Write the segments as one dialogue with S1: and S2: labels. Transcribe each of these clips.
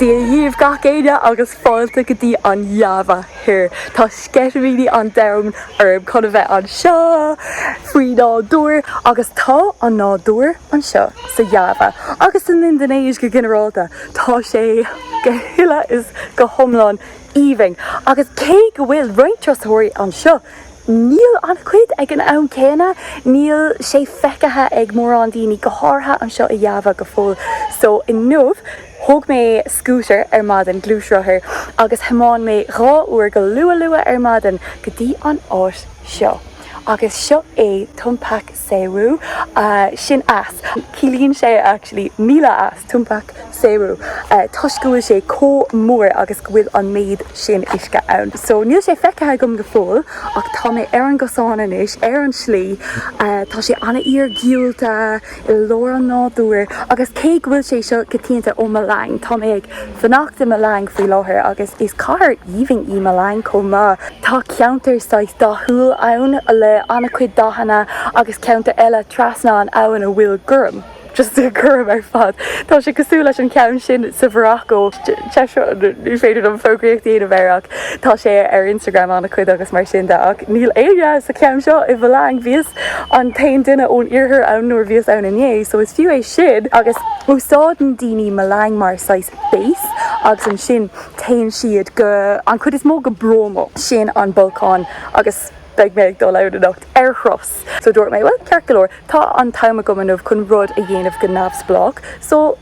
S1: Dia dhíobh gach éinne agus fáilte go dtí an Java thoir. Tá sceitimíní an domhain orm chun a bheith anseo faoi nádúr agus tá an nádúr anseo sa Java agus san Indinéis go ginearálta, tá sé go huile is go hiomlán aoibhinn agus cé go bhfuil roinnt turasóirí anseo, Níl an-chuid ag an am céanna, níl sé feicthe ag mórán daoine, go háirithe anseo i Java go fóill. So inniu, thóg mé scútar ar maidin, gluaisrothar, agus thiomáin mé dhá uair go luath luath ar maidin go dtí an áit seo. Agus seo é Tumpak Sewu sin eas. Ciallaíonn sé actually míle eas, Tumpak Sewu, toisc go bhfuil sé comh mór agus go bhfuil an méid sin uisce ann. So níl sé feicthe agam go fóill ach tá mé ar an gcosán anois, ar an slí, tá sé an-iarghiúlta i lár an nádúir agus cé go bhfuil sé seo go tiomáint ó Malang, tá mé ag. fanacht i Malang faoi láthair agus is cathair aoibhinn í Malang chomh maith. Tá ceantar saghas dathúil ann le an-chuid dathanna agus ceantar eile trasna an abhainn a bhfuil gorm, just gorm ar fad. Tá sé cosúil leis an cheann sin sa Mharacó. Ní féidir liom fógraíocht a dhéanamh air ach Tá sé ar Instagram ana-chuid agus mar sin de ach níl éinne sa cheann seo i Mhalang. Bhíos an t-aon duine ón iarthar ann nuair a bhíos ann inné so is fiú é sin agus úsáideann daoine Malang mar saghas base agus ansin téann siad go, an chuid is mó go Bromo, sin an bolcán agus beidh mé ag dul ann anocht ar thuras so dúirt mé bhuel ceart go leor tá an t-am agam inniu chun rud a dhéanamh go neamhspleách so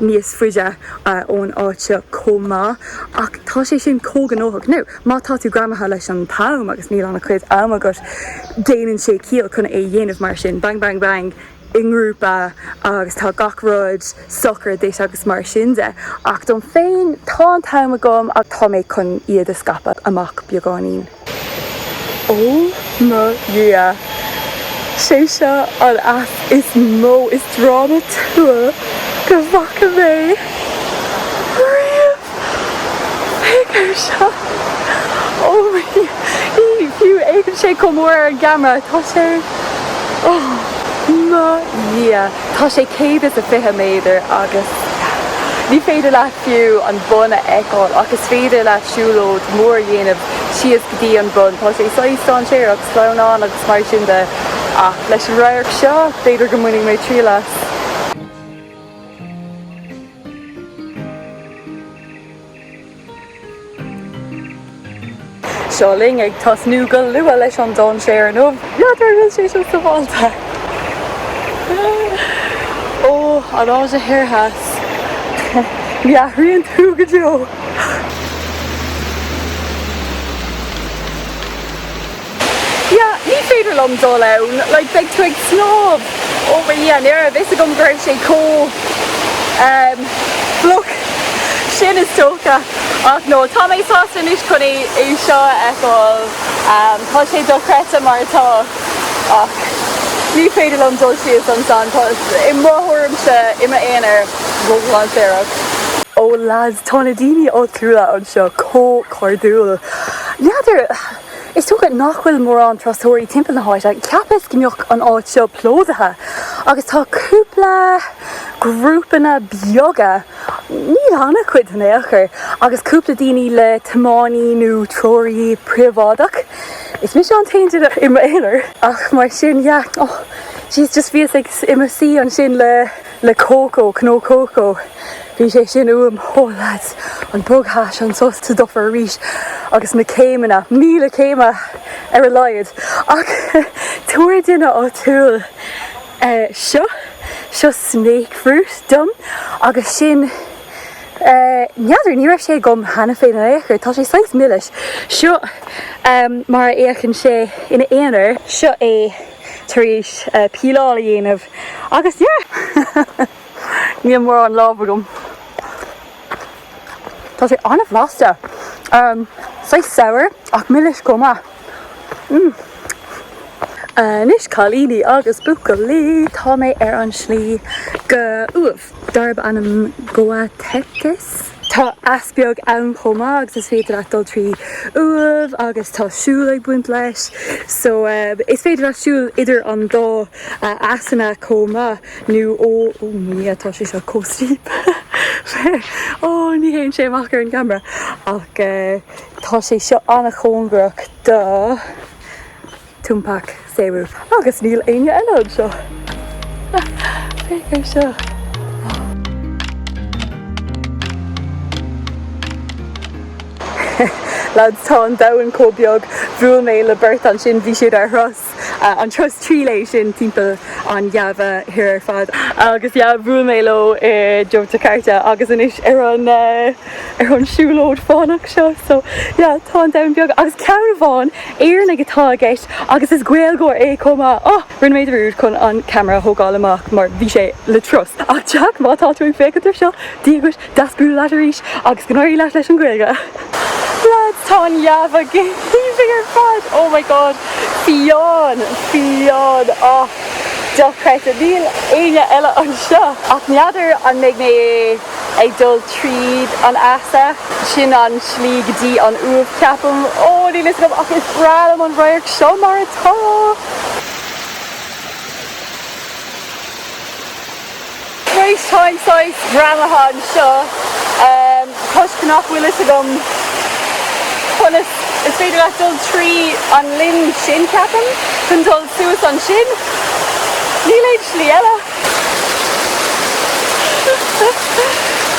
S1: níos faide ón áit seo chomh maith ach tá sé sin chomh gnóthach nó má tá tú greamaithe leis an t-am agus níl an-chuid am agat, déanann sé ciall chun é a dhéanamh mar sin, bang bang bang i ngrúpa agus tá gach rud socair duit agus mar sin de ach dom féin, tá an t-am agam so tá mé chun iad a scaipeadh amach beagáinín. Ó mo Dhia! Sé seo an eas is mó is drámatúla go bhfaca mé riamh! Féach air seo! Ó mo Dhia! Ní fiú fhéachann sé chomh mór ar an gceamara. Tá sé, ó mo Dhia! Tá sé céad is a fiche méadar agus ní féidir leat fiú an bun a fheiceáil ach is féidir leat siúlóid mhór a dhéanamh síos go dtí an bun. Tá sé saghas dainséarach, sleamhain agus mar sin de, ach leis an radharc seo, b'fhéidir go mbainfidh mé triail as. Seo linn ag tosnú go luath leis an dainséar inniu. N'fheadar an bhfuil sé seo sábháilte? Ó, an Áise Thoir Theas, ní athraíonn tú go deo. Ya, ní féidir liom dul ann, like, beidh tú ag snámh. Ó, mo Dhia, ní raibh a fhios agam go raibh sé chomh, em, fliuch sin is dócha. Ach no, tá mé sásta anois chun é seo a fheiceáil. Em, tá sé dochreidte mar atá. Ach ní féidir liom dul síos ansan, i mo thuairimse, i m'aonar, ródhainséarach. Ó lads, tá na daoine áitiúla anseo chomh cairdiúil. N'fheadar, is dócha nach bhfuil mórán turasóirí timpeall na háite, cheapas go mbeadh an áit seo plódaithe agus tá cúpla grúpanna beaga, Níl an-chuid in aon chor, agus cúpla daoine le tiománaí nó treoraí príobháideach. Is mise an t-aon duine i m'aonar, ach mar sin, yeah. Ó, jeez, just bhíos ag, i mo shuí ansin le, le cócó, cnó cócó, bhí sé sin uaim. Ó, lads, an bogthas anso sa dufair arís, agus na céimeanna, míle céime ar a laghad, ach tabhair duine áitiúil, seo. Seo snakefruit dom agus sin, n'fheadar, ní raibh sé agam cheana féin in aon chor. Tá sé saghas milis. Seo mar a fhéachann sé ina aonar. Seo é tar éis píleáil a dhéanamh agus yeah! Níl mórán lámh agam. Tá sé an-bhlasta. Saghas sour ach milis chomh maith. Anois, cailíní agus buachaillí, tá mé ar an slí go uaimh, darb ainm Goa Tetes. Tá eas beag ann chomh maith agus is féidir leat dul trí uaimh agus tá siúl ag baint leis. So, is féidir leat siúl idir an dá easanna chomh maith nó oh my yeah, tá sé seo chomh steep. Ó, ní fhéachann sé amach ar an gceamara ach eh. Tá sé seo an-chóngarach do Tumpak Sewu. Agus níl éinne eile anseo! Féach ar seo! Lads, tá an domhan chomh beag, bhuail mé le beirt ansin, bhí siad ar thraein! an turas trí lá sin timpeall an Iáva Thoir ar fad. Agus yeah, bhuail mé leo i Yogyakarta agus anois ar an, ar an siúlóid fánach seo. So yeah, tá an domhan beag. Agus ceann amháin, Éireannach atá i gceist agus is Gaeilgeoir é chomh maith. Oh! Rinne mé dearúd chun an ceamara a thógáil amach mar bhí sé le turas. Ach Jack, má tá tú ag féachaint ar seo, dia dhuit. Deas bualadh leat arís agus go n-éirí leat leis an Ghaeilge. Lads, tá an Iáva go haoibhinn ar fad! Oh my God! Fiáin! Fiáin! Ach dochreidte, níl éinne eile anseo! Ach n'fheadar an mbeidh mé ag dul tríd an easa? Sin an slí go dtí an uaimh, ceapaim. Ó, níl fhios agam ach is breá liom an radharc seo mar atá! Anois táim saghas greamaithe anseo toisc nach bhfuil fhios agam conas, is féidir leat dul trí an linn sin, ceapaim, chun dul suas ansin. Níl aon slí eile.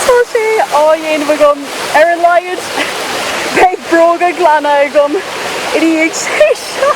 S1: Tá sé á dhéanamh agam, ar a laghad beidh bróga glana agam ina dhiaidh seo!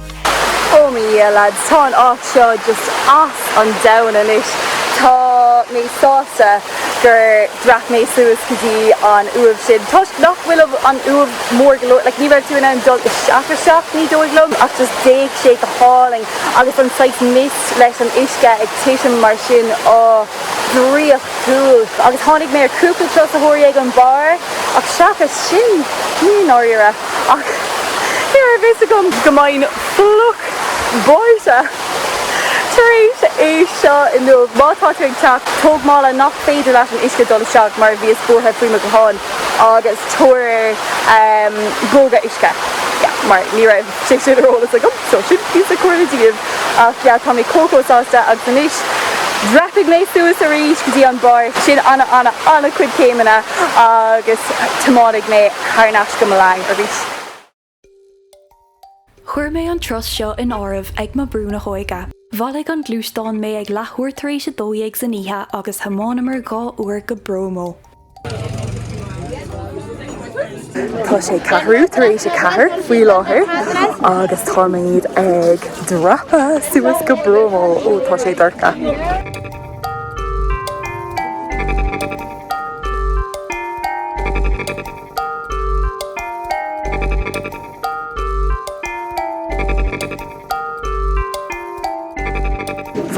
S1: Oh my yeah lads, tá an áit seo just as an domhan anois. Tá mé sásta gur dhreap mé suas go dtí an uaimh sin toisc nach bhfuil an uaimh mór go leor, like ní raibh tú in ann dul isteach isteach ní dóigh liom ach just d'fhéach sé go hálainn agus an saghas mist leis an uisce ag titim mar sin, oh draíochtúil agus tháinig mé ar cúpla turasóirí ag an barr ach seachas sin, i ndáiríre. ach ní raibh fhios agam go mbeinn fliuch báite tar éis é seo inniu. Má tá tú ag teacht, tóg mála nach féidir leis an uisce dul isteach mar bhíos buartha faoi mo ghuthán agus tabhair bróga uisce mar ní raibh sé sin ar eolas agam, so sin píosa comhairle daoibh. Ach yeah, tá mé chomh chomh sásta agus anois dhreapaigh mé suas arís go dtí an barr, sin ana ana ana chuid céimeanna agus tiomáinigh mé thar n-ais go Malang arís.
S2: Chuir mé an turas seo in áireamh ag mo Brú na hÓige. Bhailigh an gluaisteán mé ag leathuair tar éis a dó dhéag san oíche agus thiomáineamar dhá uair go Bromo.
S1: Tá sé ceathrú tar éis a ceathair faoi láthair agus táimid ag dreapadh suas go Bromo. Ó tá sé dorcha.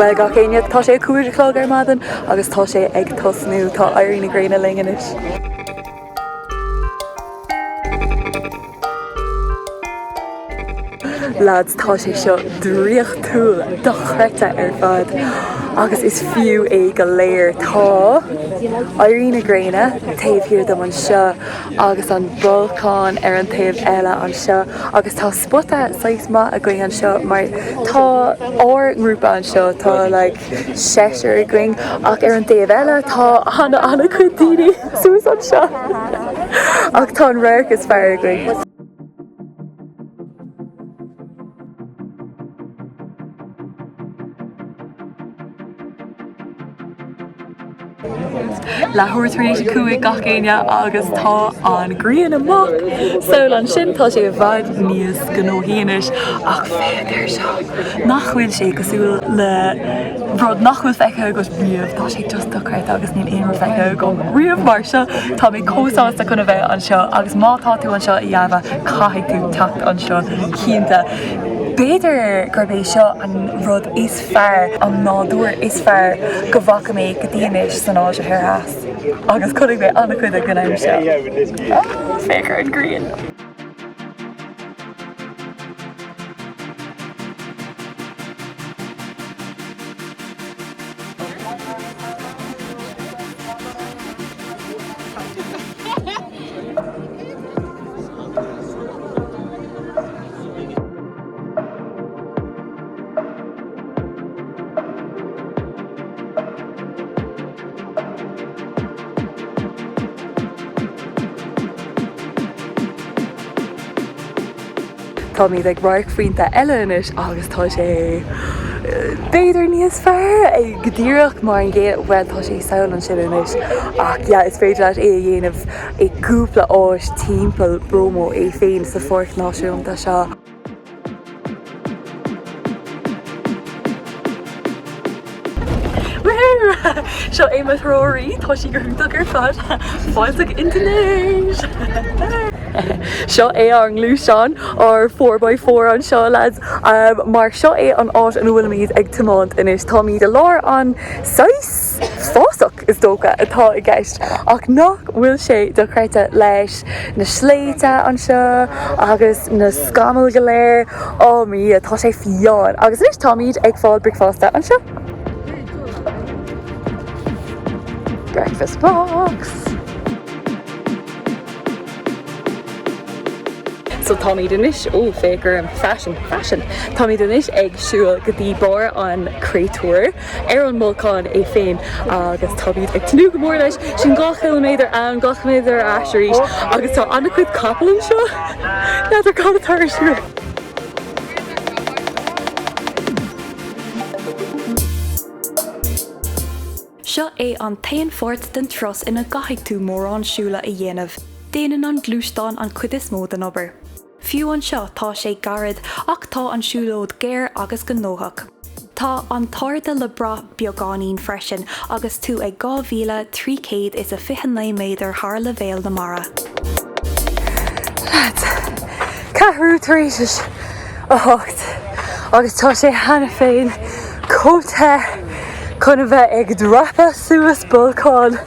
S1: Bhuel gach éinne, tá sé a cúig a chlog ar maidin agus tá sé ag tosnú. Tá éirí na gréine linn anois. Lads, tá sé seo draíochtúil, dochreidte ar fad agus is fiú é go léir. Tá éirí na gréine taobh thiar dom anseo agus an bolcán ar an taobh eile anseo agus tá spota saghas maith againn anseo mar tá ár ngrúpa anseo, tá like seisear againn ach ar an dtaobh eile tá ana chuid daoine suas anseo ach tá an radharc is fearr againn. leathuair tar éis a cúig gach éinne agus tá an ghrian amach sall ansin tá sé i bhfad níos gnóthaí anois ach féach air seo nach bhfuil sé cosúil le rud nach bhfuil feicthe agat riamh tá sé just dochreidte agus níl aon rud feicthe agam riamh mar seo tá mé chomh sásta chun a bheith anseo agus má tá tú anseo i Java caithfidh tú teacht anseo cinnte. B'fhéidir gurb é seo an rud is. fearr an nádúr is fearr go bhfaca mé go dtí anois san Áise Thoir Theas, agus chonaic mé an-chuid ag an am seo. Féach ar an ghrian! Táimid ag radharcphointe eile anois agus tá sé b'fhéidir níos fearr go díreach mar an gcéad, bhuel tá sé sall ansin anois ach yeah is féidir leat é a dhéanamh i gcúpla áit timpeall Bromo é féin sa Pháirc Náisiúnta seo. Seo é mo threoraí, tá sí go hiontach ar fad, fáilteach Indinéis! Seo é ár ngluaisteán, ár four by four anseo lads, mar seo é an áit ina bhfuilimid ag tiomáint anois. Táimid i lár an saghas fásach. is dócha, atá i gceist, ach nach bhfuil sé dochreidte leis na sléibhte anseo agus na scamaill go léir. Ó, a Dhia, tá sé fiáin! Agus anois táimid ag fáil bricfeasta anseo. Breakfast box! So táimid anois, ó, féach orm, fashion, fashion! Táimid anois ag siúl go dtí barr an chráitéir. ar an mbolcán é féin agus táimid ag tnúth go mór leis. Sin dhá chiliméadar ann, dhá chiliméadar ar ais arís agus tá an-chuid capall anseo. N'fheadar cad atá ar siúl.
S2: Seo é an t-aon pháirt den turas ina gcaithfidh tú mórán siúil a dhéanamh, déanann an gluaisteán an chuid is mó den obair. Fiú anseo tá sé gairid ach tá an siúlóid géar agus gnóthach. Tá an t-airde le brath beagáinín freisin agus tú ag dhá mhíle, trí chéad is a fiche naoi méadar thar leibhéal na mara.
S1: Leaids, ceathrú tar éis a hocht agus tá sé cheana féin chomh te chun a bheith ag dreapadh suas bolcáin!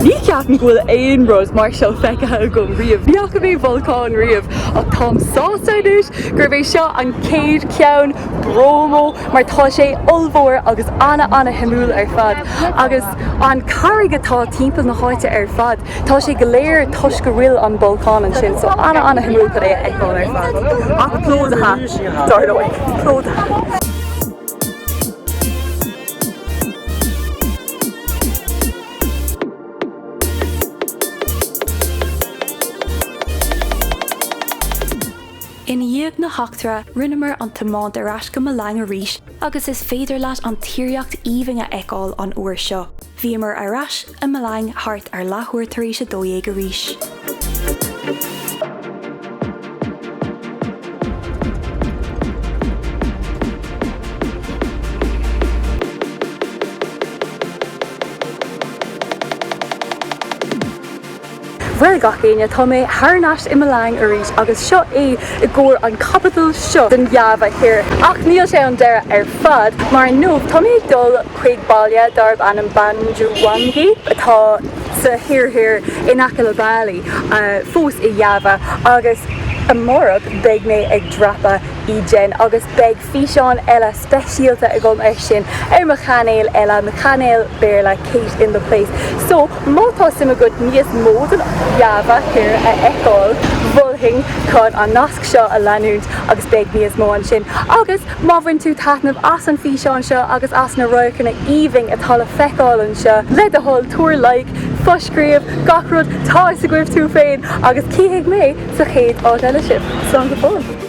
S1: Ní cheapaim go bhfuil aon rud mar seo feicthe agam riamh. Ní fhaca mé bolcán riamh ach táim sásta anois gurb é seo an chéad cheann, Bromo, mar tá sé ollmhór agus ana-ana-shuimiúil ar fad. Agus an carraig atá timpeall na háite ar fad, tá sé go léir toisc go bhfuil an bolcán ansin, so ana-ana-shuimiúil chun é a fheiceáil ar fad. Ach plódaithe, dar ndóigh. Plódaithe.
S2: I ndiaidh na heachtra, rinneamar an tiomáint ar ais go Malang arís agus is féidir leat an tíríocht aoibhinn a fheiceáil an uair seo. Bhíomar ar ais i Malang thart ar leathuair tar éis a dó dhéag arís.
S1: Bhuel, gach éinne, tá mé thar n-ais i Malang arís agus seo é i gcomhair an caibidil seo den Java Thoir. Ach níl sé an deireadh ar fad, mar inniu tá mé ag dul chuig baile darb ainm Banyuwangi atá sa thír thoir in aice le Bali, fós i Java, agus amárach beidh mé ag dreapadh Ijen agus beidh físeán eile speisialta agam air sin ar mo chainéal eile, mo chainéal Béarla Kate in the Place. So, má tá suim agat níos mó den Java thoir a fheiceáil, mholfainn daoibh an nasc seo a leanúint agus beidh níos mó ansin. Agus. Má bhain tú taitneamh as an bhfíseán seo agus as na radharcanna aoibhinn atá le feiceáil anseo, le do thoil tabhair like, foscríobh, gach rud 'tá 'fhios agaibh tú féin! agus cífidh mé sa chéad áit eile sibh. Slán go fóill!